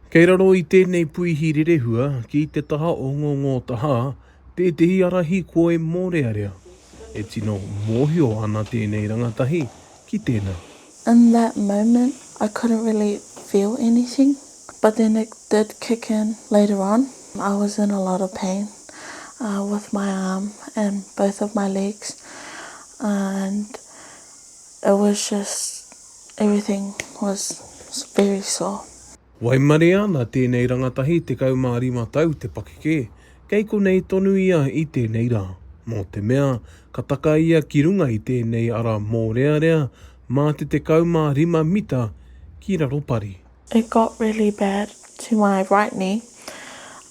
Kei raro i tēnei puihi rerehua ki te taha o ngō ngō tahā tētehi arahi koi mōrearea. E tino mōhio ana tēnei rangatahi ki tēnā. In that moment I couldn't really feel anything but then it did kick in later on. I was in a lot of pain with my arm and both of my legs and. It was just everything was very soft. Waimarie ana tēnei rangatahi 15 tau te pakeke, kei konei tonu ia i tēnei rā, mō te mea ka taka ia ki runga i tēnei ara mōrearea mā te 15 mita ki raro pari. It got really bad to my right knee,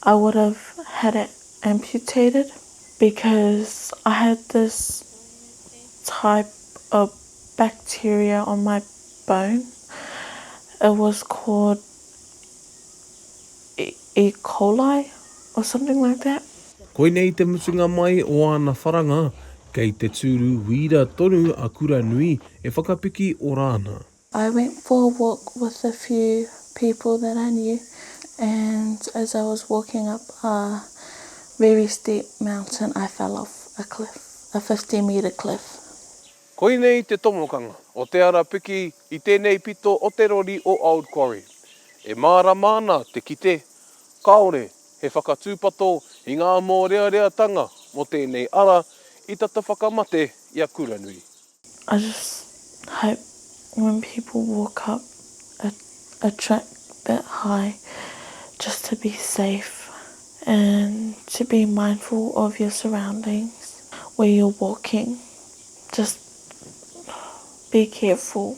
I would have had it amputated because I had this type of bacteria on my bone. It was called E. coli or something like that. Koinei te mutunga mai o ana wharanga, kei te tūru wīra tonu a Kuranui e whakapiki ora ana. I went for a walk with a few people that I knew and as I was walking up a very steep mountain I fell off a cliff, a fifty metre cliff. Koinei te tomokanga o te ara piki i tēnei pito o te rori o Old Quarry. E mārama ana te kite, kāore he whakatūpato i ngā mōreareatanga mō tēnei ara i tata whakamate i a Kuranui. I just hope when people walk up a a track that high just to be safe and to be mindful of your surroundings where you're walking just be careful.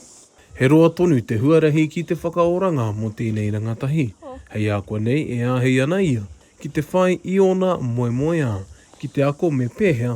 He roa tonu te huarahi ki te whakaoranga mo tēnei rangatahi, hei ākuanei e āhei ana ia ki te whai i ōna moemoeā, ki te ako me pēhea